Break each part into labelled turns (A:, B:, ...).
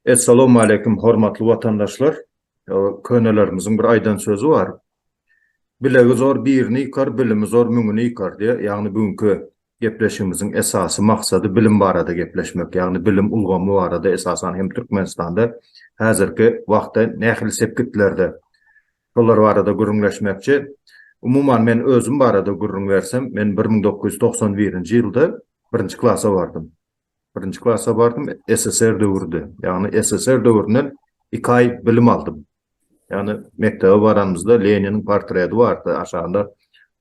A: Essalawmaleýkim hormatly watandaşlar! Könelerimiziň bir aýdan sözi bar, Bilegi zor birini ýykar, bilimi zor müňüni ýykar diýýär. Ýagny bu günki gepleşigimiziň esasy maksady bilim barada gepleşmek. Ýagny bilim ulgamy barada esasan hem Türkmenistanda häzirki wagtda nähili sepgitlerde Şolar barada gürrüňleşmekçi. Umuman, men özüm barada gürrüň bersem, men bir müň dokuz ýüz togsan birinji ýylda birinji klasa bardym. Birinji klasa bardym, SSR döwrüdi. Ýagny, SSR döwründen iki aý bilim aldym. Ýagny, mekdebe baranymyzda Leniniň portreti bardy, aşagynda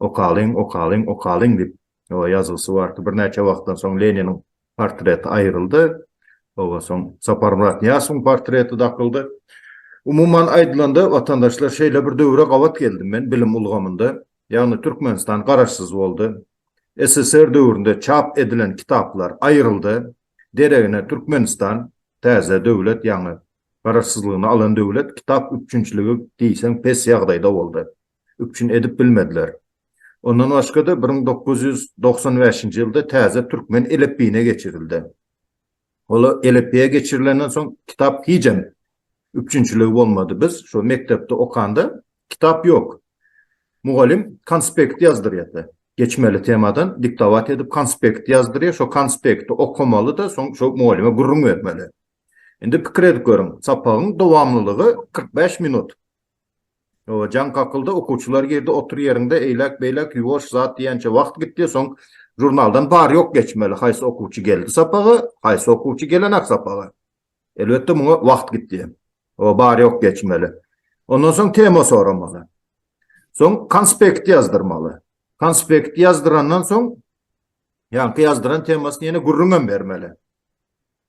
A: Okalyň, okalyň, okalyň diýip, Oba ýazgysy bar ki, birnäçe wagtdan soň Leniniň portreti aýryldy. Oba soň Saparmyrat Nyýasowyň portreti dakyldy. Umuman aýdylanda, watandaşlar, şeýle bir döwre gabat geldim men bilim ulgamynda. Ýagny Türkmenistan garaşsyz boldy. SSR döwründe çap edilen kitaplar aýryldy. Deregine Türkmenistan, täze döwlet, ýaňy garaşsyzlygyny alan döwlet, kitap üpjünçiligi diýseň pes ýagdaýda boldy. üpjün edip bilmediler. Ondan başga-da bir müň dokuz ýüz togsan bäşinji ýylda täze türkmen elipbiýine geçirildi. Ol elipbiýe geçirilenden soň kitap hijem üpjünçiligi bolmady. Biz şo mekdepde okanda kitap ýok. Mugallym konspekt ýazdyrýardy. Geçmeli temadan diktowat edip konspekt ýazdyrýar, şo konspekti okamaly-da, soň şo mugallyma gürrüň bermeli. Indi pikir edip görüň, sapagyň dowamlylygy kyrk bäş minut. Jaň kakyldy, okuwçylar girdi, otur ýeriňde, eýläk-beýläk ýuwaş zat diýençä wagt gitdi, soň žurnaldan bar-ýok geçmeli, haýsy okuwçy geldi sapaga, haýsy okuwçy gelenak sapaga. Elbetde, muňa wagt gitdi. Bar-ýok geçmeli. Ondan soň tema soramaly. Soň konspekt ýazdyrmaly. Konspekt ýazdyrandan soň ýaňky ýazdyran temasyny ýene gürrüňem bermeli.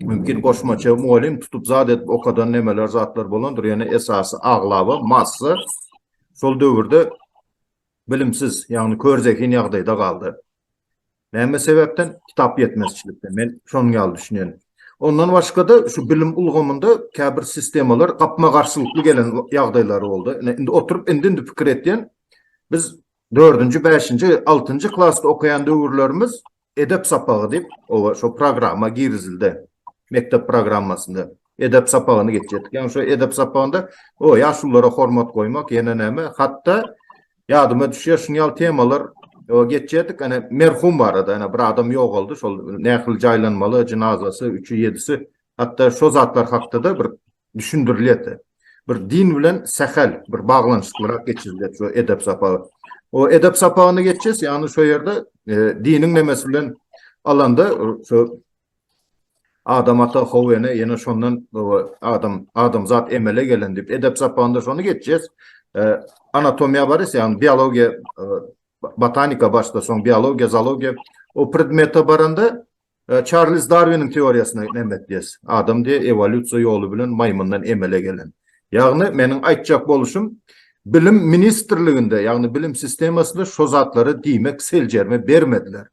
A: Mümkin goşmaça mugallym tutup zat edip okadan nemeler zatlar bolandyr ýöne esasy aglaba massa şol döwürde bilimsiz ýagny kör zehin ýagdaýda galdy. Näme sebäpden? Kitap ýetmezçilikden. Men şonuň ýaly düşünýän. Ondan başga-da şu bilim ulgamynda käbir sistemalar gapma garşylykly gelen ýagdaýlary boldy. Indi oturyp indi indi pikir etýän biz 4-nji, 5-nji, 6-njy klasda okaýan döwürlerimiz Edep sapagy diýip, oba şo programma girizildi. Mekdep programmasynda edep sapagyny geçýärdik. Ýagny şo edep sapagynda o ýaşulylara hormat goýmak, ýene näme, hatda ýadyma düşýär, şuny ýaly temalar o geçýärdik. Ana merhum barada, ana bir adam ýogaldy, şol nähili jaýlanmaly, jynazasy, üçi, ýedisi, hatda şo zatlar hakda-da bir düşündirilýärdi. Bir din bilen sähel bir baglanyşyklyrak geçirilýär şu edep sapagy. O edep sapagyny geçýäs, ýagny şu ýerde e, diniň nemesi bilen alanda şu adam ata howene ýene şondan adam adamzat emele gelen diýip edep sapagynda şony geçýäs. E, anatomiýa barys, ýagny biologiýa e, botanika başda soň biologiýa, zoologiýa o predmete baranda Çarlz Darwiniň teoriýasyna nämetdiýes? Adam diýe ewolýusiýa ýoly bilen maýmyndan emele gelen. Ýagny meniň aýtjak boluşym bilim ministrliginde, ýagny bilim sistemasynda şo zatlary diýmek seljerme bermediler.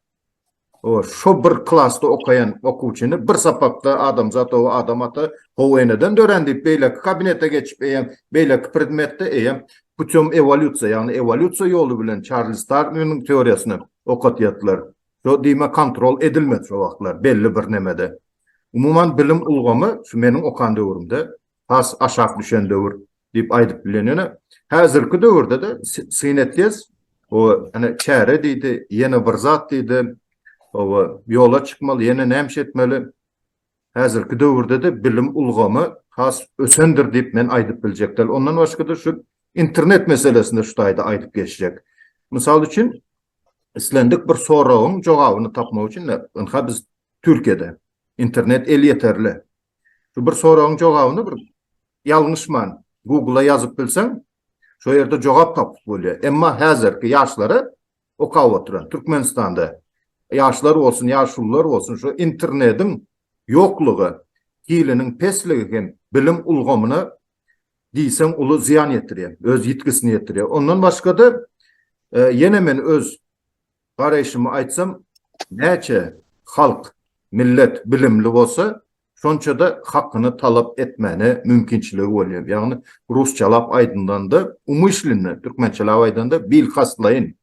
A: O şo bir klasda okaýan okuwçyny bir sapakda adamzat ow adam ata ow eneden dörän diýip beýleki kabinete geçip eýem beýleki predmetde eýem putem ewolýusiýa ýagny ewolýusiýa ýoly bilen Çarlz Darwiniň teoriýasyny okatýatlar. Şo diýme kontrol edilmedi şo wagtlar belli bir nemede. Umuman bilim ulgamy şu meniň okan döwrümde has aşak düşen döwür diýip aýdyp bilen ýöne häzirki döwürde-de syn etýäs o ene çäre diýdi ýene bir zat diýdi oba ýola çykmaly ýene näme etmeli häzirki döwürde-de bilim ulgamy has ösendir diýip men aýdyp biljek däl ondan başga-da şu internet meselesinde şu taýda aýdyp geçjek mysal üçin Islendik bir soragyň jogabyny tapmak üçin ynha biz Türkiýede internet elýeterli. Şu bir soragyň jogabyny bir ýalňyşman Google-a ýazyp bilseň, şo ýerde jogap tapyp bolýar. Emma häzirki ýaşlara okap oturan Türkmenistanda ýaşlar bolsun, ýaşulular bolsun şu internetiň ýoklugy, hiliniň pesligi hem bilim ulgamyna diýseň uly zyýan ýetirýär, öz ýitgisini ýetirýär. Ondan başga-da, ýene men öz garaýşymy aýtsam, näçe halk, millet bilimli bolsa, şonça-da hakyny talap etmäne mümkinçiligi bolýar. Ýagny, rusçalap aýdylanda, umyşlynda, türkmençelap aýdanda, bilkastlaýyn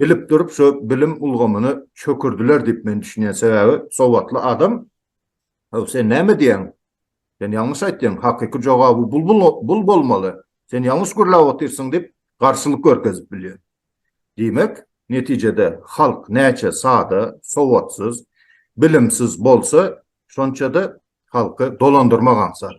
A: bilip durup, şo bilim ulgamyny çökürdiler diýip men düşünýän. Sebäbi, sowatly adam Haw, sen näme diýýäň? Sen ýalňyş aýtýaň, hakyky jogaby bul bolmaly, sen ýalňyş gürläp otyrsyň diýip, garşylyk görkezip bilýär. Diýmek, netijede halk näçe sada, sowatsyz, bilimsiz bolsa, şonça-da halky dolandyrmak aňsat.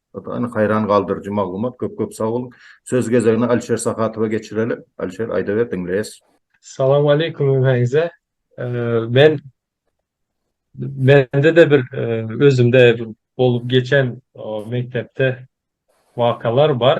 A: Ynha haýran galdyryjy maglumat köp köp sag boluň. Söz gezegini Alişer Sahatowa geçireli. Alişer aýdaber diňleýäs. Salam aleýkum
B: hemmäňize. Men mende-de bir özümde bolup geçen mekdepde wakalar bar.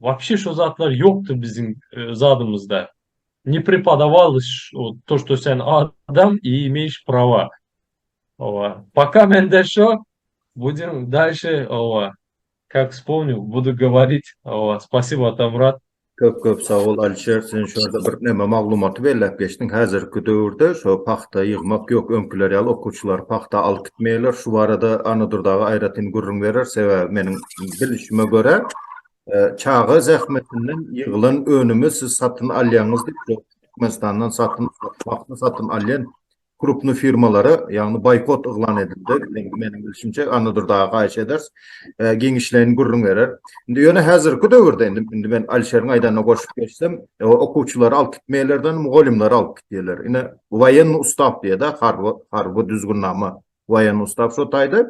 B: Wapşe şo zatlar ýokdy biziň zadymyzda. Ne prepodawalys o to što sen adam i imeýş prava. Owa. Poka mende şo. Budim dalşe owa kak spomnyu budu govorit owa spasibo Atamyrat. Köp köp sag bol
A: Alişer sen şu ýerde bir neme maglumaty belläp geçdiň häzirki döwürde şo pagta ýygmak ýok öňkiler ýaly okuwçylary pagta alyp gitmeýärler şu barada Annadurdaga aýratyn gürrüň berer sebäbi meniň bilişime görä, çaga zähmetinden ýygylan önümi siz satyn alýaňyz diýip, Türkmenistandan satyn paghta satyn alýan krupnyý firmalara, ýagny boýkot yglan edildi. Meniň bilşimçe, Annadurdy aga haýyş ederis, giňişleýin gürrüň berer. Indi ýöne häzirki döwürde, indi, indi men Alişeriň aýdanyna goşup geçsem, okuwçylary alyp gitmeýärler-de, mugallymlary alyp gitýärler. Ine, woýennoý ustaw diýýär-de, harby, harby düzgünnama Waýen ustaw şo taýda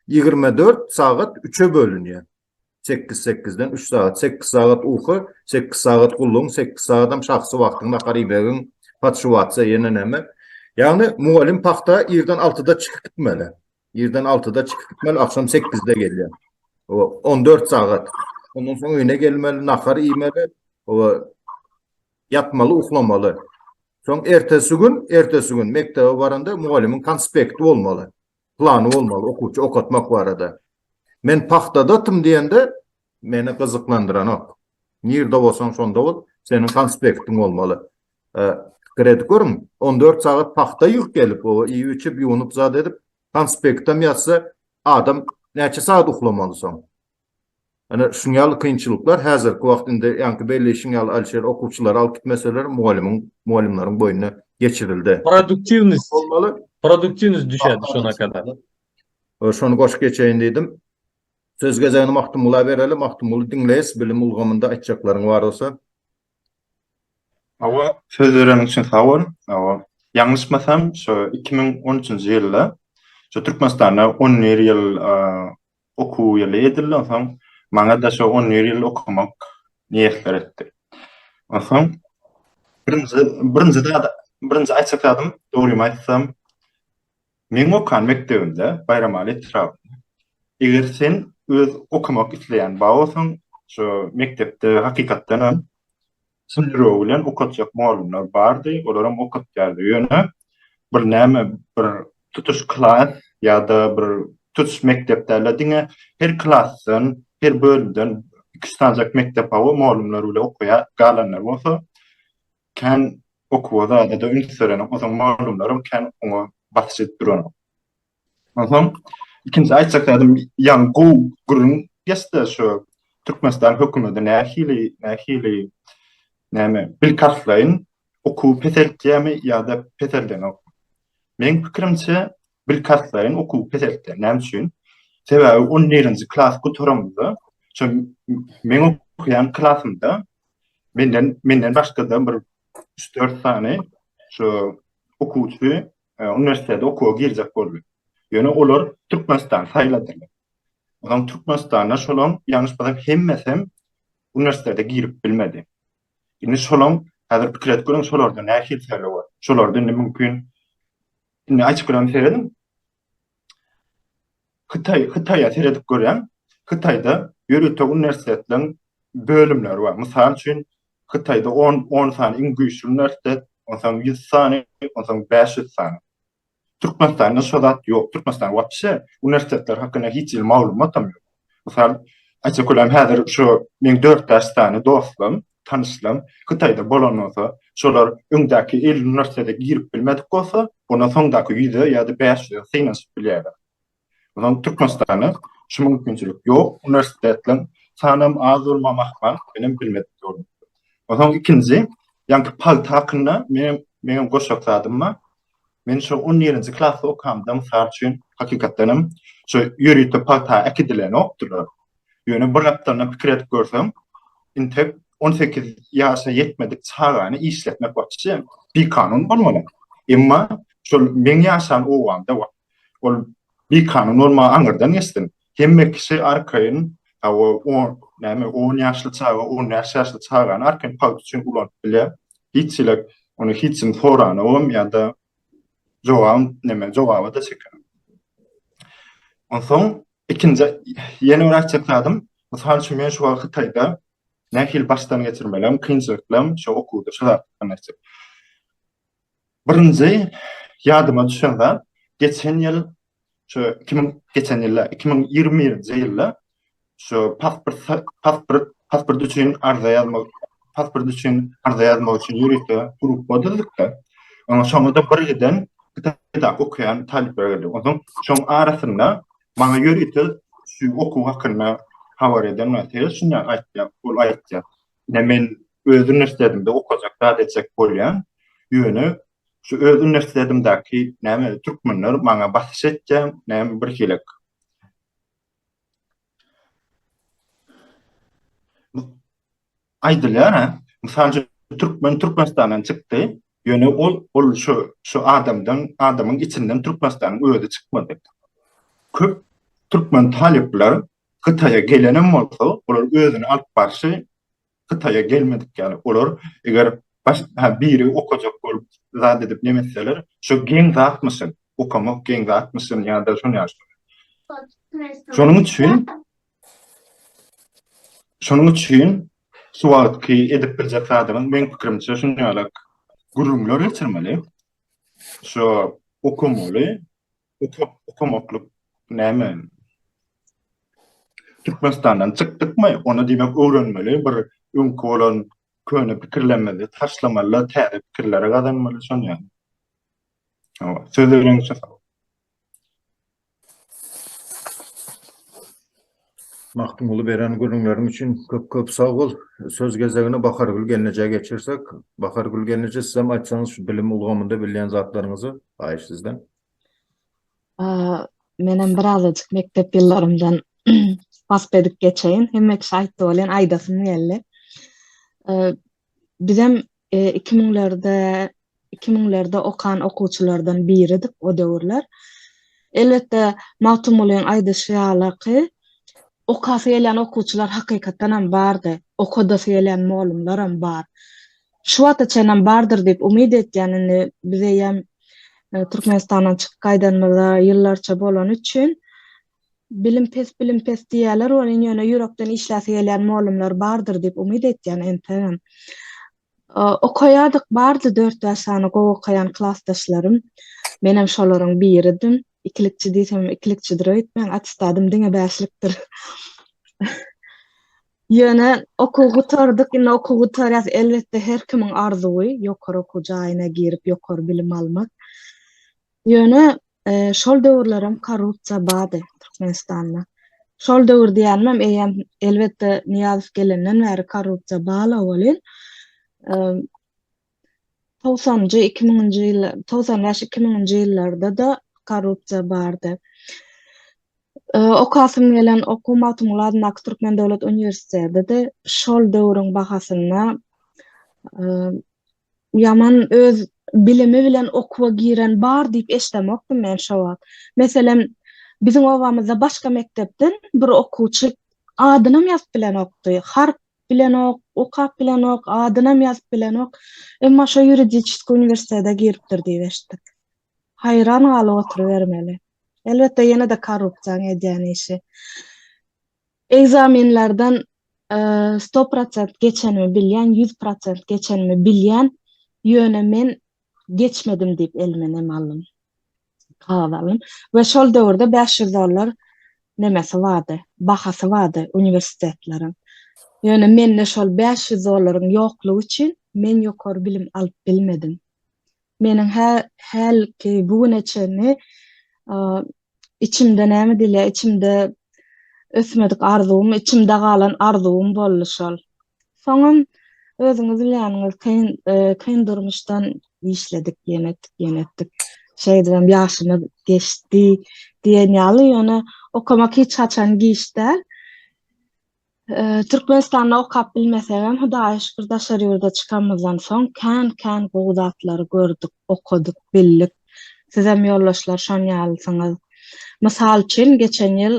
A: ýigrimi dört sagat üçe bölünýär. Sekiz sekizden üç sagat. Sekiz sagat uky, sekiz sagat gullugyň, sekiz sagatam şahsy wagtyň, nahar iýmegiň, podşuwatsa ýene näme. Ýagny mugallym pagta irden altyda çykyp gitmeli. Irden altyda çykyp gitmeli, agşam sekizde gelýär. Oba, on dört sagat. Ondan soň öýüne gelmeli, nahar iýmeli. Oba, Ýatmaly, uklamaly. Soň ertesi gün, ertesi gün mekdebe baranda mugallymyň konspekti bolmaly. Plany bolmaly okuwçy okatmak barada. Men pagtadatym diýende meni gyzyklandyranok. Nirde bolsaň şonda bol, seniň konspektiň bolmaly. Pikir edip görüň, on dört sagat pagta ýygyp gelip, oba iýip-içip, ýuwnup zat edip, konspektem ýazsa, adam näçe sagat uklamaly soň? Ine, şuň ýaly kynçylyklar häzirki wagt indi ýaňky belleýşiň ýaly Alişer okuwçylary alyp gitmeseler mugallymyň, mugallymlaryň boýnuna geçirildi. Produktiwnost bolmaly.
B: Produktiwnost düşerdi şona kadar. Şony
A: goşup geçeýin diýdim. Söz gezegini Magtymgula bereli. Magtymguly diňleýs bilim ulgamynda aýtjaklaryň bar bolsa. Hawa,
C: söz bereniň üçin sag bol. Hawa, ýalňyşmasam, şu iki müň on üçünji ýylda şu Türkmenistanda on bir ýyl Okuw ýyly edilden soň, maňa-da şo on bir ýyl okamak miýesser etdi. Onsoň birinji, birinji zat, birinji aýtjak zadym, dogrymy aýtsam, meň okan mekdebimde, Baýramaly etrabynda, eger sen öz okamak isleýän ba bolsaň, şo mekdepde hakykatdan hem Şol ýüregi bilen okatjak mugallymlar bardy, olaram okatýardy. Ýöne bir näme, bir tutuş klas ýa-da bir tutuş mekdep däl-de, diňe her klasdan, her bölümden iki-üç sanjak mekdep hawa, mugallymlar bile okaýar, galanlar bolsa kän okuwa zada-da üns berenok, o soň mugallymlaram kän oňa basyş edip duranok. Onsoň ikinji aýtjak zädim ýaňy gowy gürrüň geçdi şu Türkmenistan hökümeti nähili nähili näme bil kartlaýyn okuwy peseltýärmi ýa-da peseldenok. Meň pikirimçe bil kartlaýyn okuwy peseltýär. Näme üçin? Sebäbi on birinji klas gutaramda şu meň okuýan klasymda menden menden başga-da bir üç-dört sany şu okuwçy uniwersitete okuwa girjek boldy. Ýöne olar Türkmenistany saýladylar. Onsoň Türkmenistanda şolaň ýalňyş bolsam hemmesem uniwersitete girip bilmedi. Indi şolaň häzir pikir edip görüň şolarda nähili tejribe bar. Şolarda indi mümkin indi açyk bilemseredim Hytaý, Hytaýa seredip görýän. Hytaýda ýörite uniwersitetleriň bölümleri bar. Mysal üçin, Hytaýda on, on sany iň güýçli uniwersitet, onsoň ýüz sany, onsoň bäş ýüz sany. Türkmenistanda şo zat ýok. Türkmenistan wapşe uniwersitetler hakynda hiç hili maglumatam ýok. Mysal, aýtsak bolýar, häzir şu meň dört bäş sany dostum, tanyşlaň, Hytaýda bolan bolsa, şolar öňdäki elli uniwersitete girip bilmedik bolsa, onda soňdaky ýüze ýa-da bäş ýüze synanyşyp bilýärler. Onsoň Türkmenistanda şu mümkinçilik ýok, uniwersitetleriň sanam az bolmagam ahmal, menem bilmedik ýolum. Onsoň ikinji, ýaňky pagta hakynda menem, meňem goşak zadym bar. Men şo on ýerinji klasda okamda, mysal üçin, hakykatdan hem, şo ýörite pagta äkidilenokdylar. Ýöne bir gapdalyndan pikir edip görsem, intek on sekiz ýaşa ýetmedik çagany işletmek waçi bikanun bolmaly. Emma şol meň ýaşan obamda, Ol bikanun bolmagy aňyrdan geçsin. Hemme kişi arkaýyn, hawa, on, näme, on ýaşly çaga, on bäş ýaşly çagany arkaýyn pagt üçin ulanyp bilýär. Hiç çilek, ony hiç kim soranogam ýa-da jogabam, näme, jogaba-da çeken. Onsoň, ikinji, ýene bir aýtjak zadym, mysal üçin, men şu wagt Hytaýda nähili başdan geçirmelerimi, kynçylyklarymy şu okuwda, şu zatdan aýtjak. Birinji ýadyma düşen zat, geçen ýyl, şu iki müň, geçen ýyl däl, iki müň ýigrimi birinji ýylda şu pasport, pasport, pasport üçin arza ýazmak, pasport üçin arza ýazmak üçin ýörite gruppa düzdük-de, oňa şoňa-da bir giden Kitapda okaýan talyplar girdi. Onsoň şoň arasynda maňa ýörite şu okuw hakynda habar eden wagty şunday aýtdy, ol aýtdy. Ine men öz uniwersitetinde okajak zat etjek bolýan. Ýöne şu öz uniwersitetindäki näme türkmenler maňa basyş etýär, näme bir hilik. Aýdylýar-a, mysal üçin türkmen Türkmenistandan çykdy, ýöne ol ol şu şu adamdan adamyň içinden Türkmenistanyň özi çykmady. Köp türkmen talyplar Hytaýa gelenem bolsa, olar özüni alyp barşy Hytaýa gelmedik ýaly. Olar eger baş ha biri okajak bolup zat edip nemetseler, şu geň zatmyşyn, okamak geň zatmyşyn ýa-da şuny ýa şuny. Şonuň üçin Şonuň üçin şu wagtky edip biljek zadyňyz meň pikirimçe şuny ýalak gürrüňler geçirmeli. Şu okamaly, Okap okamaklyk näme? Türkmenistandan çykdykmy, onda diýmek öwrenmeli, bir öňki bolan köne pikirlerimizi taşlamaly-da, täze pikirleri gazanmaly, şony ýaly. Hawa, söz beriňizçe sag boluň.
A: Magtymguly beren gürrüňleriň üçin köp-köp sag bol. Söz gezegini Bahargül gelnejä geçirsek. Bahargül gelneje, sizem aýtsaňyz şu bilim ulgamynda bilýän zatlaryňyzy, haýyş sizden.
D: Menem birazajyk mekdep ýyllarymdan wasp edip geçeýin. Hemme kişi aýtdy welin aýdasym geldi. Bizem 2000-lerde e, 2000-lerde okan okuwçylardan biridik o döwürler. Elbetde Magtymgulyň aýdyşy ýaly ki, okasy gelýän okuwçylar hakykatdan hem bardy. Okadasy gelýän mugallymlar hem bar. Şu wagta çenlem bardyr diýip umyt etýän indi biz eýýäm Türkmenistandan çykyp gaýdanymyza ýyllarça bolany üçin bilim pes bilim pes diýýärler welin ýöne ýürekden işläsi gelýän mollumlar bardyr diýip umyt etýän ensegem okaýardyk bardy dört bäş sany gowy okaýan klasdaşlarym menem şolaryň biridim ikilikçi diýsemem ikilikçidir öýtmäň attestadym diňe bäşlikdir Ýöne okuw gutardyk, indi okuw gutarýas. Elbetde, her kimiň arzuwy ýokary okuw jaýyna girip, ýokary bilim almak. Ýöne şol döwürlerem korrupsiýa bardy Türkmenistanda. Şol döwür diýenimem, eýýäm, elbetde, Nyýazow gelenden bäri korrupsiýa bala welin, togsanjy, iki müňünji ýyllar, togsan bäş, iki müňünji ýyllarda-da korrupsiýa bardy. Okasym gelen okuw Magtymguly adyndaky Türkmen döwlet uniwersiteti-de şol döwrüň bahasynda ýaman öz bilimi bilen okuwa giren bar diýip eşdemokdym men şo wagt. Meselem, biziň obamyzda başga mekdepden bir okuwçy adynam ýazyp bilenokdy. Harp bilenok, okap bilenok, adynam ýazyp bilenok, emma şo ýuridiçeskiý uniwersitete giripdir diýip eşitdik. Haýran galyp oturybermeli. Elbetde, ýene-de korrupsiýaň edýän işi. Ekzamenlerden sto prosent geçenimi bilýän, ýüz prosent geçenimi bilýän, ýöne men geçmedim diýip elime nem aldym. we şol döwürde bäş ýüz dollar nemesi bardy, bahasy bardy uniwersitetleriň. Ýöne mende şol bäş ýüz dollaryň ýoklugy üçin men ýokary bilim alyp bilmedim. Meniň hä, hälki bu güne çenli içimde näme diýilýär, içimde ösmedik arzuwym, içimde galan arzuwym boldy şol. Soňam özüňiz bilýäniňiz, kyn, e, kyn durmuşdan işledik, ýene etdik, ýene etdik. Şeýdibem ýaşymyz geçdi diýen ýaly, ýöne okamak hiç haçan giç däl. E, Türkmenistanda okap bilmesegem, Hudaýa şükür, daşary ýurda çykanymyzdan soň kän-kän gowy zatlary gördük, okadyk, bildik. Sizem ýoldaşlar şon ýalysyňyz. Mysal üçin, geçen ýyl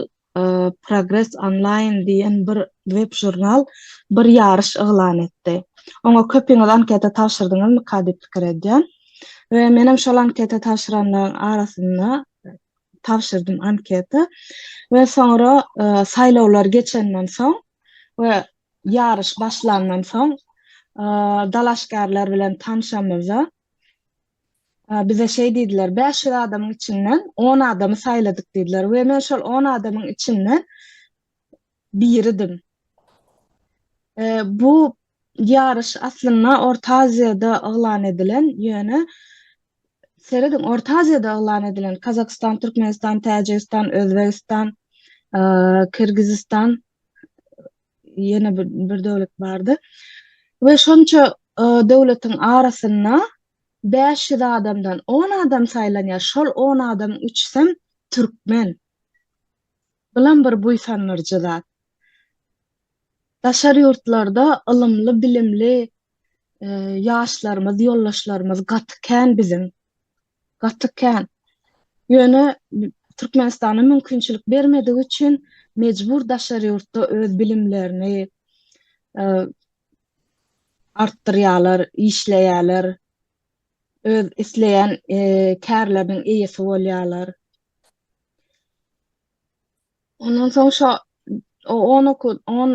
D: Progress Online diýen bir web-žurnal bir ýaryş yglan etdi. Oňa köpiňiz anketa tabşyrdyňyzmyka diýip pikir edýän. We menem şol anketa tabşyranlaryň arasynda tabşyrdym anketa. We soňra saýlawlar geçenden soň we ýaryş başlandan soň dalaşgärler bilen tanşamyzda, Bize şeý diýdiler, Bäş ýüz adamyň içinden on adamy saýladyk diýdiler we men şol on adamyň içinden biridim. Bu ýaryş aslynda Orta Aziýada yglan edilen, ýöne serediň, Orta Aziýada yglan edilen, Kazakystan, Türkmenistan, Täjigistan, Özbegistan, Kyrgyzystan, ýene bir bir döwlet bardy. We şonça e, döwletiň arasynda 500 adamdan 10 adam saýlanýar. Şol 10 adam üçsem türkmen. Bulam bir buýsandyrjy zat. Daşary ýurtlarda ylymly, bilimli e, ýaşlarymyz, ýoldaşlarymyz gaty kän biziň. gaty kän. Ýöne Türkmenistana mümkinçilik bermedigi üçin mejbur daşary ýurtda öz bilimlerini e, artdyrýarlar, işleýärler, öz isleýän e, kärleriniň eýesi bolýarlar. Ondan soň şo o on oku on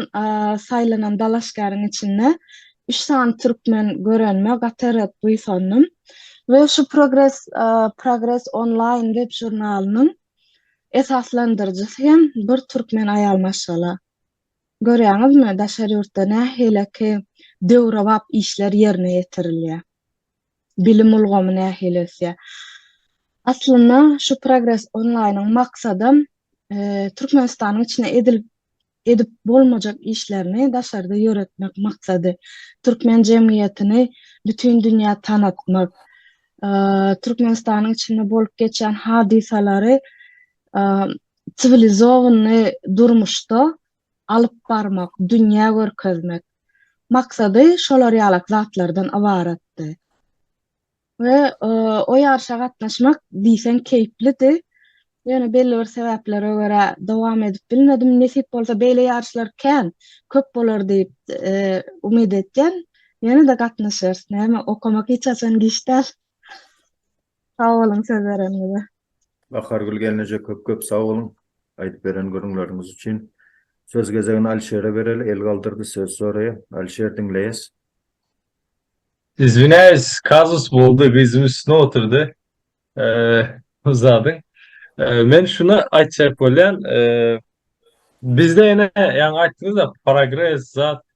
D: saýlanan dalaşgäriň içinde üç sany türkmen görenime gaty-ret buýsandym we şu progres progres onlaýn web žurnalynyň esaslandyryjysy hem bir türkmen aýal maşgala. Görýäňizmi, daşary ýurtda nähileki döwrebap işler ýerine ýetirilýär. bilim ulgamy nähili ösýär? Aslynda şu Progres onlaýnyň maksadam Türkmenistanyň içinde edilip edip bolmajak işlerini daşarda ýöretmek maksady. Türkmen jemgyýetini bütin dünýä tanatmak, Türkmenistanyň içinde bolup geçýän hadysalary siwilizowany durmuşda alyp barmak, dünýä görkezmek maksady şolar ýalak zatlardan ybaratdy. We o ýaryşa gatnaşmak diýseň keýplidi. Ýöne belli bir sebäplere görä dowam edip bilmedim. Nesip bolsa beýle ýaryşlar kän, köp bolar diýip umyt edýän. Ýene-de gatnaşarys, näme, okamak hiç haçan giç däl. Sag boluň söz bereniňize. Bahargül
A: gelneje köp köp sag boluň aýdyp beren gürrüňleriňiz üçin. Söz gezegini Alişere bereli, el galdyrdy söz soraýa. Alişer diňleýäs.
B: Izwinayis kazus boldy gyzym üstüne otyrdy bu zadyň men şuny aytjak bolyan bizde ene yani aytdynyzda progres zat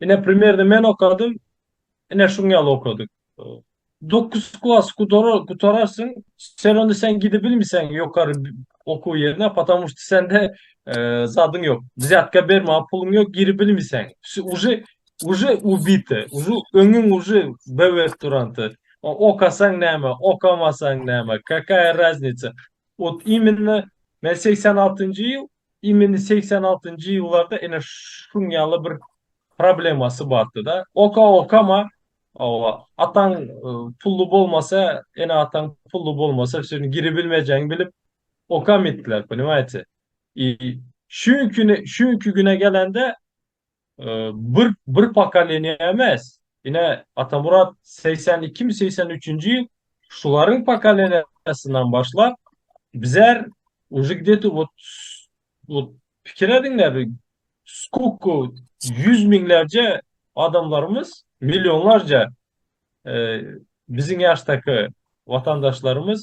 B: Ine primerni men okadym. Ine şuň ýaly okadyk. Dokuz klas gutararsyň, seronda sen gidebilmiseň ýokary okuw ýerine, potamu şt sende zadyň ýok. Wzýatka bermä puluň ýok, giribilmiseň. Uje uje ubite, uje öňüň uje bwet duranty. Okasaň näme, okamasaň näme, kakaýa raznice. Ot iminna men segsen altynjy ýyl Imini segsen altynjy ýyllarda ene şuň ýaly bir problemasy bardy-da. Oka okama, oba, ataň pully bolmasa, ene ataň pully bolmasa şuny giri bilmejegini bilip okamytdylar, ponimaýte. I şuňki şuňki güne gelende Bir bir pokoleniýa emes, ine Atamyrat segsen ikimi, segsen üçünji ýyl şularyň pokoleniýasyndan başlap bizar uje gde-to wot wot pikir ediň-le bir skолько ýüz müňlerje adamlarymyz, millionlarja biziň ýaşdaky watandaşlarymyz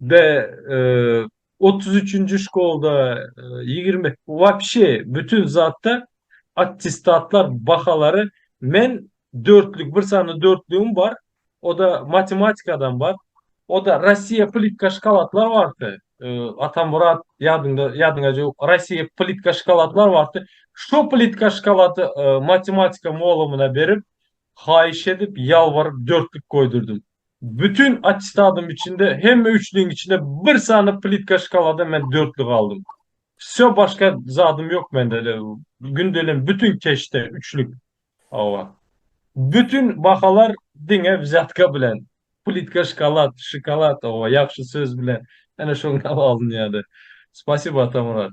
B: we otuz üçünji şkolda ýigrimi wapşe bütin zatda attestatlar bahalary men dörtlük bir sany dörtlügim bar oda matematikadan bar oda rossiýa plitka şkalatlar bardy atamyrat ýadyňda ýadyňa jok rossiýa plitka şkalatlar bardy şo plitka şkalaty matematika molumyna berip haýyş edip ýalbaryp dörtlük goýdurdym Bütin attestadym içinde hemme üçlügiň içinde bir sany plitka şkalada men dörtli galdym. Wsýo başga zadym ýok mende de gündelem bütin keşde üçlük. Hawa. Bütin bahalar diňe wzýatka bilen. Plitka şkalad, şokolad, hawa, ýagşy söz bilen ene şoňa alynýardy. Spasibo Atamyrat.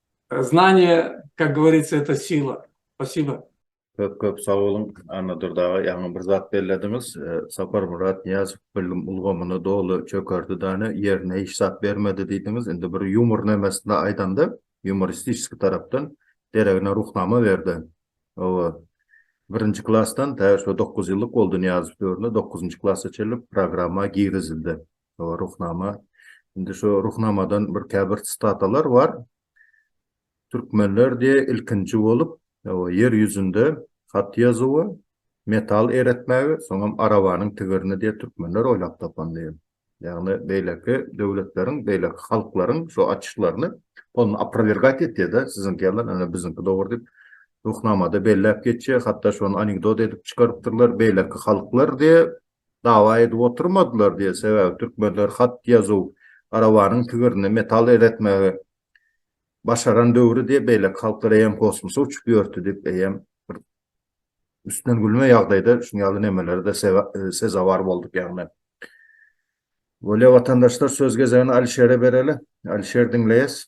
E: Znanie, kak govoritsa, eto sila. Spasiba. Köp köp sag
A: boluň Annadur daga ýaňy bir zat bellediňiz Saparmyrat Nyýazow bilim ulgamyny doly çökerdi dane ýerine hiç zat bermedi diýdiňiz indi bir ýumor nemesinde aýdanda ýumoristiski tarapdan deregine ruhnama berde oba birinji klasdan tä şu dokuz ýyllyk boldy Nyýazow döwründe dokuzynjy klasa çenli programma girizildi Şo Ruhnama. Indi şo Ruhnamadan bir käbir statalar bar. Türkmenler diye ilkinji bolup ýer ýüzünde hat ýazuwy, metal eretmäge, soňam arabanyň tigirini diye türkmenler oýlap tapan diye. Ýagny beýleki döwletleriň, beýleki halklaryň şo açyşlaryny ol aprowergat etýä-de, siziňki ýaly ene biziňki dogry diýip, Ruhnamada belläp geçýä, hatda şony anekdot edip çykarypdyrlar, beýleki halklar diye dawa edip oturmadylar diýer, sebäbi türkmenler hat ýazuw, arabanyň tigirinde metal eretmegi başaran döwri diýip, beýleki halklar eýýäm kosmosa uçup ýörti diýip, eýýäm bir üstünden gülme ýagdaýda şuň ýaly nemelere-de sezewar bolduk ýagny. Bolýa watandaşlar söz gezegini Alişere bereli. Alişer diňleýäs.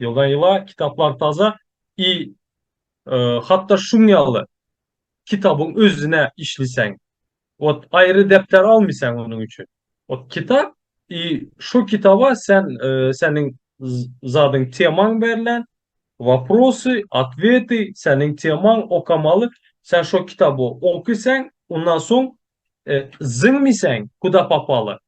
B: Ýyla-ýyla kitaplar taza i hatda şuň ýaly kitabyň özüne işliseň ot aýry depder almyseň onuň üçin ot kitap i şo kitaba sen seniň zadyň temaň berlen waprosy otweti seniň temaň okamaly sen şo kitaby okyseň ondan soň zyňmyseň kuda popaly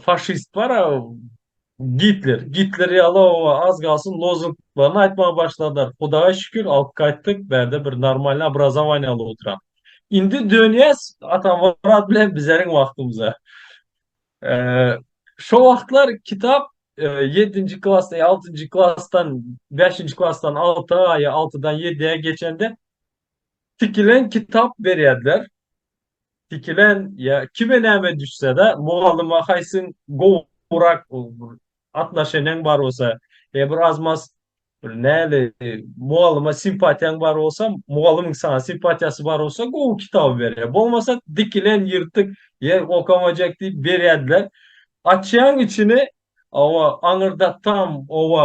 B: Faşist bar a Gitler. Gitler ýaly o az galsyn lozunglaryny aýtmaga başladylar. Hudaýa şükür alyp gaýtdyk. Bärde bir normalny obrazowaniýa alyp oturan. Indi dönýäs Atamyrat bilen bizeriň wagtymyza. Şo wagtlar kitap 7-nji klasda, 6-njy klasdan, 5-nji klasdan 6-a ýa 6-dan 7-ä geçende tikilen kitap berýärdiler. Sikilen ýa kime näme düşsede mugallyma haýsyň gowurak atnaşeniň bar bolsa ýa bir az mas näli mugallyma simpatiýaň bar bolsa mugallymyň saňa simpatiýasy bar bolsa gowy kitaby berýär bolmasa dikilen ýyrtyk ýer okamajak diýip berýädiler açýaň içini owa aňyrdatdam owa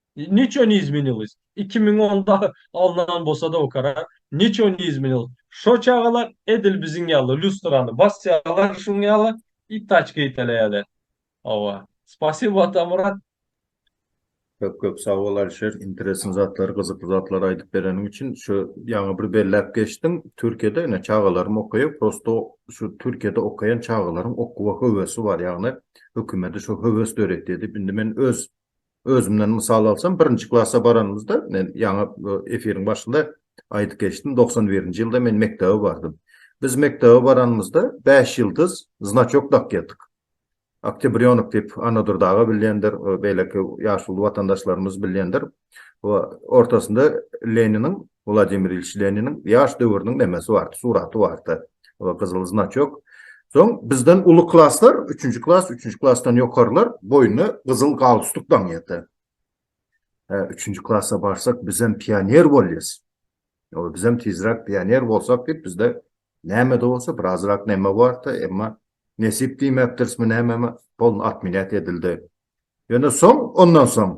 B: Niço ne izminilis? Iki müň onda alnan bolsada o karar. Niço ne izminilis? Şo çagalar edil biziň ýaly lýustrany basýalar şuň ýaly i taçka iteleýäler. Hawa. Spasibo Atamyrat. Köp
A: köp sag bol Alişer interesn zatlary gyzykly zatlary aýdyp bereniň üçin. Şu ýaňy bir belläp geçdiň Türkiýede ine çagalarym okaýar prosto şu Türkiýede okaýan çagalaryň okuwa höwesi bar ýagny hökümedi şu höwes döretýär diýip indi men öz Özümden mysal alsam, birinji klasa baranymyzda, men ýaňy efiriň başynda aýdyp geçdim, togsan birinji ýylda men mekdebe bardym. Biz mekdebe baranymyzda bäş ýyldyz znaçok dakýardyk. Oktýabrýonok diýip, Annadur daga bilýändir, beýleki ýaşuly watandaşlarymyz bilýändir. Ortasynda Leniniň Wladimir Ilýiç Leniniň ýaş döwrüniň nemesi bardy, suraty bardy, gyzyl znaçok. Soň bizden uly klaslar, üçünji klas, üçünji klasdan ýokarylar, boýnuna gyzyl galstuk daňýardy. Hä, üçünji klasa barsak, bizem pioner bolýas. Ýa-da bizem tizräk pioner bolsak diýip, bizde näme-de bolsa birazrak neme bardy, emma nesip diýmekdirismi nämemi, polny otmenýat edildi. Ýöne soň, ondan soň,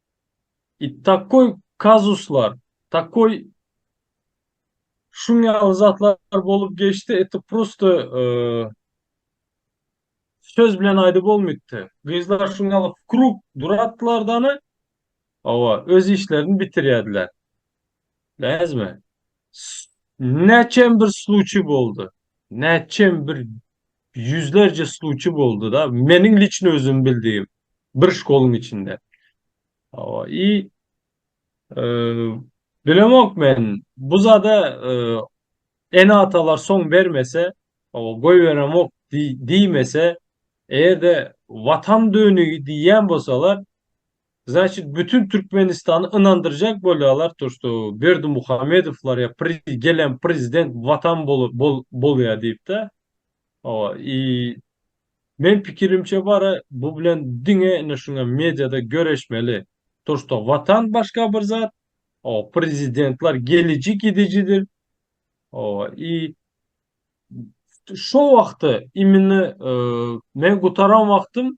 B: I takoý kazuslar, takoý şuň ýaly zatlar bolup geçdi, eto prosto söz bilen aýdyp bolmytdy. Gyzlar şuň ýaly w krug duratdylar dany, owa, öz işlerini bitirýädiler. Näzme? Näçem bir sluçi boldy. Näçem bir ýüzlerje sluçi boldy-da, meniň liçno özüm bildigim bir şkoluň içinde. Hawa, i bilemok men, bu zada ene-atalar soň bermese, hawa, goýberemok diýmese, eger-de Watan dönügi diýýän bolsalar, Znaçit bütün Türkmenistany ynandyrjak bolýalar to što Berdimuhamedowlar ýa pri gelen prezident watan bolu bol bolýa diýipde owa i men pikirimçe bara bu bilen diňe ine şuňa mediada göreşmeli to što watan başga bir zat owa prezidentlar geliji gidijidir owa i şo wagty immini men gutaran wagtym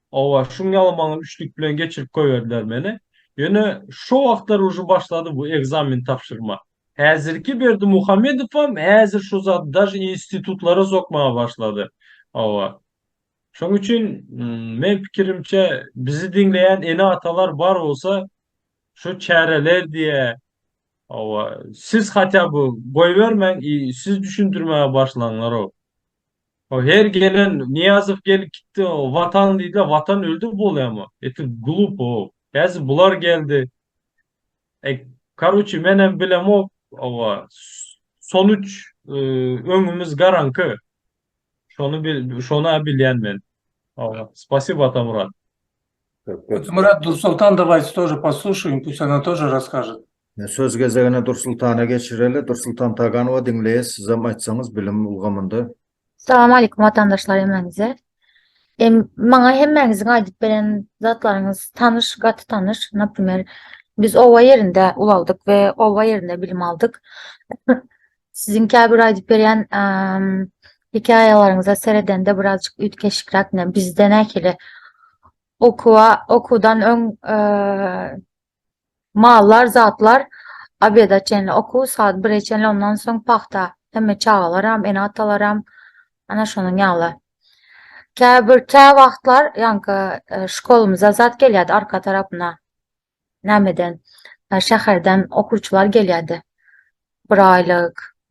B: Hawa, şuň ýaly maňa üçlük bilen geçirip goýberdiler meni. Ýöne şo wagtlar uje başlady bu ekzamen tabşyrma. Häzirki Berdimuhamedowam häzir şu zady daže institutlara sokmaga başlady. Hawa. Şoň üçin meň pikirimçe bizi diňleýän ene-atalar bar bolsa şu çäreler diýe. Hawa, siz hatýa by goýbermäň i siz düşündirmäge başlaňlarow. O her gelen Niýazow gelip gitdi Watan diýdiler Watan öldü bolýamy eti glupo häzir bular geldi e karuçi menem bilemok owa sonuç öňümiz garaňky şony bil şona bilýän men owa spasibo Atamurat.
E: Atamurat Dursoltan davaýte tože posluşaýyn pust ona tože raskažet. Söz gezegini
A: Dursultana geçireli. Dursultan Taganowa diňleýäs, sizem aýtsaňyz bilim ulgamynda. Salam aleýkum
F: watandaşlar hemmäňize. Maňa hemmäňiziň aýdyp beren zatlaryňyz tanyş, gaty tanyş. Naprimer, biz oba ýerinde ulaldyk we oba ýerinde bilim aldyk. Siziň käbir aýdyp berýän hekaýalaryňyza seredende birazjyk üýtgeşikräk, ine bizde nähili okuwa, okuwdan öň Mallar, zatlar obeda çenli okuw, saat bire çenli, ondan soň pagta. Hemme çagalaram, ene-atalaram, ana şonuň ýaly. Käbir kä wagtlar ýaňky şkolymyza zat gelýärdi arka tarapyna. Nämeden? Şäherden okuwçylar gelýärdi. Bir aýlyk,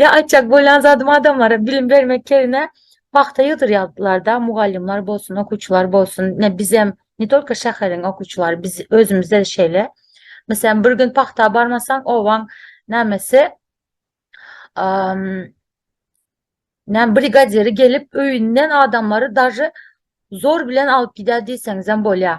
F: Ýa aýtjak bolýan zadym adamlara bilim bermek ýerine pagta ýygdyrýardylarda mugallymlar bolsun okuwçylar bolsun ne bizem ne tolko şäheriň okuwçylary biz özümizde şeýle meselem bir gün pagta barmasaň obaň nämesi näme brigadiri gelip öýünden adamlary daži zor bilen alyp gidýär diýseňizem bolýar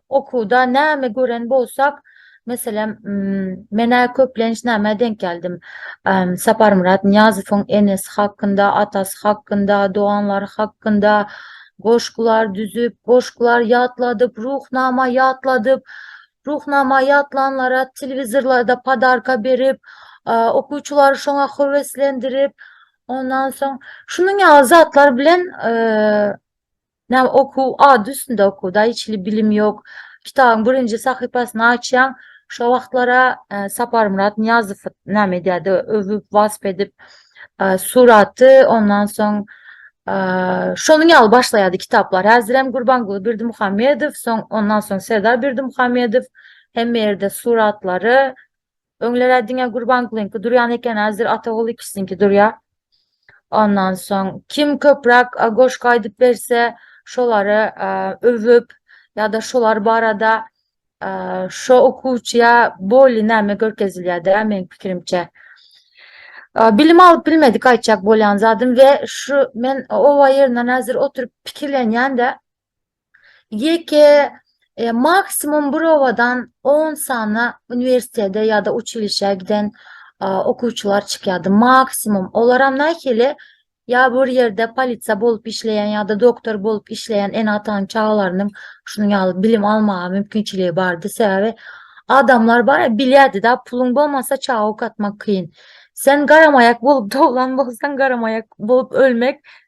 F: Okuwda näme gören bolsak, meselem, men-ä köplenç nämä denk geldim? Saparmyrat Nyýazowyň enesi hakynda, atasy hakynda, doganlary hakynda goşgular düzüp, goşgular ýatladyp, Ruhnama ýatladyp, Ruhnama ýatlanlara telewizorlarda podarka berip, okuwçylary şoňa höweslendirip, ondan soň şunuň ýaly zatlar bilen Näme okuw, ady üstünde okuw da, hiç hili bilim ýok. Kitabyň birinji sahypasyny açýaň, şo wagtlar-a Saparmyrat Nyýazow näme edýärdi, öwüp, wasp edip, suraty, ondan soň şonuň ýaly başlaýardy kitaplar. Häzirem Gurbanguly Berdimuhamedow, soň ondan soň Serdar Berdimuhamedow, hemme ýerde suratlary, Öňler-ä diňe Gurbangulyňky durýan eken, häzir Ataguly kişiniňki durýar. Ondan soň, kim köpräk goşgy aýdyp berse, şolary öwüp ýa-da şolar barada şo okuwçyýa bolly näme görkezilýär-dä, meniň pikirimçe. Bilim alyp bilmedik aýtjak bolýan zadym we şu men oba ýerinden häzir oturyp pikirlenýän-de, Ýeke e, maksimum bir obadan 10 sany uniwersitete ýa-da uçilişe giden e, okuwçylar çykýardy. Maksimum. Olar hem nähili ýa bir ýerde polisiýa bolup işleýän ýa-da doktor bolup işleýän ene-atanyň çagalarynyň şunuň ýaly bilim almaga mümkinçiligi bardy. Sebäbi adamlar bar, bilýärdi-de, puluň bolmasa çaga okatmak kyn. Sen garamaýak bolup doglan bolsaň, garamaýak bolup ölmek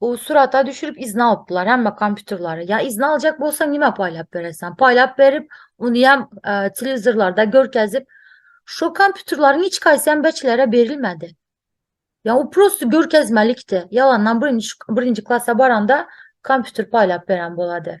F: O surata düşürip izni alypdylar hemme kompýuterleri. Ya izni aljak bolsaň nime paýlap berersen? Paýlap berip, ony hem e, telewizorlarda görkezip, şu kompýuterleriň hiç haýsy hem beçilere berilmedi. Ya o prosto görkezmelikdi. Ýalandan birinji birinji klasa baranda kompýuter paýlap beren bolady.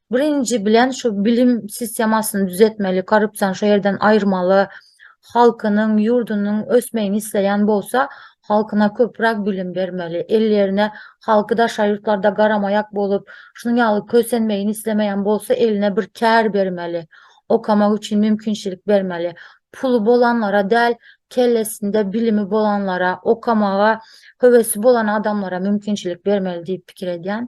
F: Birinji bilen şu bilim sistemasyny düzetmeli, korrupsiýany şu ýerden aýyrmaly. Halkynyň, ýurdunyň ösmegini isleýän bolsa, halkyna köpräk bilim bermeli. Ellerine halky daşary ýurtlarda garamaýak bolup, şunuň ýaly kösenmegini islemeýän bolsa, eline bir kär bermeli. Okamak üçin mümkinçilik bermeli. Puly bolanlara däl, kellesinde bilimi bolanlara, okamaga höwesi bolan adamlara mümkinçilik bermeli diýip pikir edýän.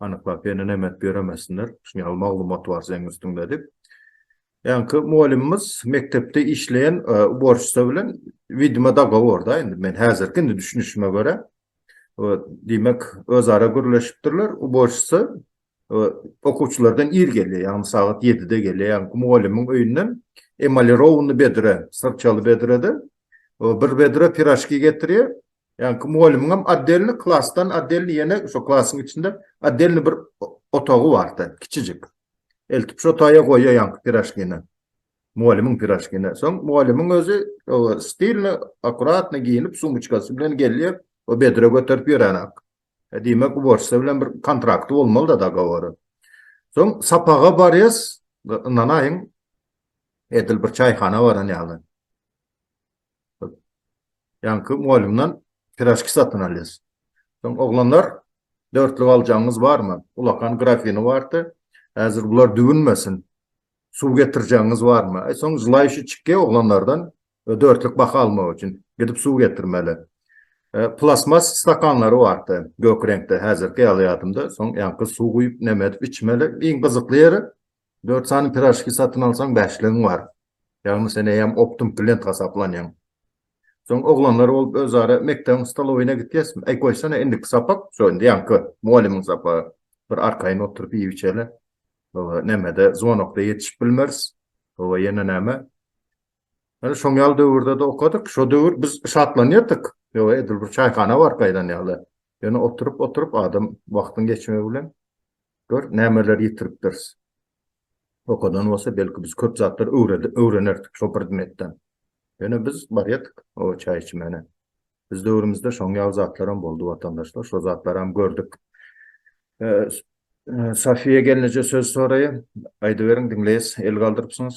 A: anyklap hene nemet ýöremesinler, şuny ýaly maglumat bar seň üstüňde diýip. Ýaňky mugallymymyz mekdepde işleýän uborşça bilen widima dogoworda indi men häzirki indi düşünişime görä diýmek özara gürleşipdirler uborşça okuwçylardan ir gelýär ýagny sagat ýedide gelýär ýaňky mugallymyň öýünden emalirowny bedre syrçaly bedrede bir bedre piraşki getirýär Ýaňky mugallymyňam otdelny klasdan otdelny ýene şo klasyň içinde otdelny bir otagy bardy, kiçijik. Eltip şo otaýa goýýar ýaňky piraşkini. Mugallymyň piraşkini. Soň mugallymyň özi stilny, akuratny geýnip, sumyçkasy bilen gelýär, o bedre göterip ýöränak. Diýmek, uborşça bilen bir kontrakty bolmaly-da, dogowory. Soň sapaga barýas, ynanaýyň, edil bir çaýhana baran ýaly. Ýaňky mugallymdan piraşki satyn alýas. Soň oglanlar, dörtlük aljagyňyz barmy? Ulakan grafini bardy. Häzir bular düwünmesin. Suw getirjegiňiz barmy? Aý, soň želaýşy çykýa oglanlardan dörtlük baha almak üçin. Gidip suw getirmeli. Plastmas stakanlary bardy, gök reňkde, häzirki ýaly ýadymda. Soň ýaňky suw guýup, näme edip içmeli. Iň gyzykly ýeri, Dört sany piražki satyn alsaň bäşligiň bar. Ýagny sen eýýäm optum klient hasaplanýaň. Soň oglanlar bolup özara mekdebiň stolowyna gitýäsmi? Äý goýsana indiki sapak, şo indi ýaňky mugallymyň sapagy. Bir arkaýyn oturyp iýip-içeli. Hawa, nämede zwonokda ýetişip bilmeris. Hawa, ýene näme? Ýöne şoň ýaly döwürde-de okadyk. Şo döwür biz şatlanýardyk. Ýoga edil bir çaýhana bar gaýdan ýaly. Ýöne oturyp oturyp adam wagtyň geçmegi bilen gör nämeleri ýitiripdiris. Okadan bolsa belki biz köp zatlar öwrenerdik şo predmetden. Ýöne biz barýadyk o çaý içmäne. Biz döwrümizde şoň ýaly zatlaram boldy watandaşlar şo zatlaram gördük. Safiýa gelneje söz soraýa aýdyberiň diňleýäs el galdyrypsyňyz.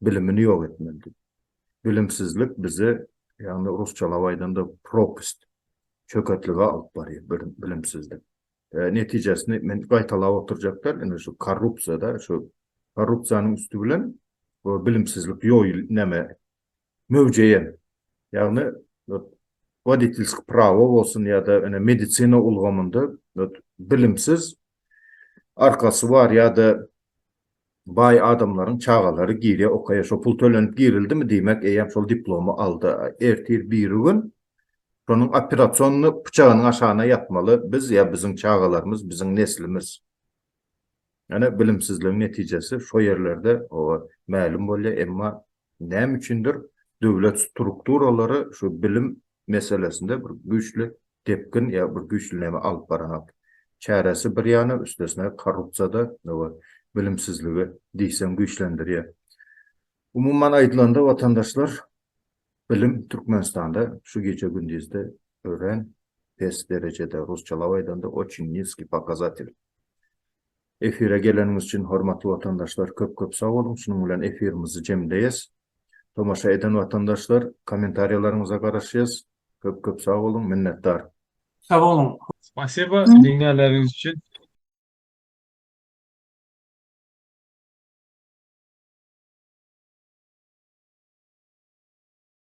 A: bilimini ýok etmeli. Bilimsizlik bizi, ýagny rusçalap aýdanda, propast, çöketlige alyp barýar bilimsizlik. Netijesini men gaýtalap oturjak däl, indi şu korrupsiýa-da, şu korrupsiýanyň üsti bilen bilimsizlik ýoýul, näme, möwjeýär. Ýagny, woditelskiý prawo bolsun ýa-da ene medisina ulgamynda bilimsiz arkasy bar ýa-da baý adamlaryň çagalary girýär okaýa şo pul tölenip girildimi diýmek eýýäm şol diplomy aldy ertir birigün şonuň operasonyny pyçagynyň aşagyna ýatmaly biz ýa biziň çagalarymyz biziň neslimiz ýöne bilimsizligiň netijesi şo ýerlerde oba mälim bolýar emma Näme üçindir, döwlet strukturalary şu bilim meselesinde bir güýçli depgin ýa bir güýçli näme alyp baranok. Çäresi bir ýana, üstesine korrupsiýa-da we bilimsizligi diýseň güýçlendirýär. Umuman aýdylanda, watandaşlar, bilim Türkmenistanda şu gije-gündizde örän pes derejede, rusçalap aýdanda, oçin niskiý pokazatelý. Efire geleniňiz üçin hormatly watandaşlar köp köp sag boluň şunuň bilen efirimizi jemleýes. Tomaşa eden watandaşlar kommentariýalaryňyza garaşýas köp köp sag
B: boluň
E: minnetdar.
B: Sag boluň.
A: Spasiba
B: diňlänleriňiz
A: üçin.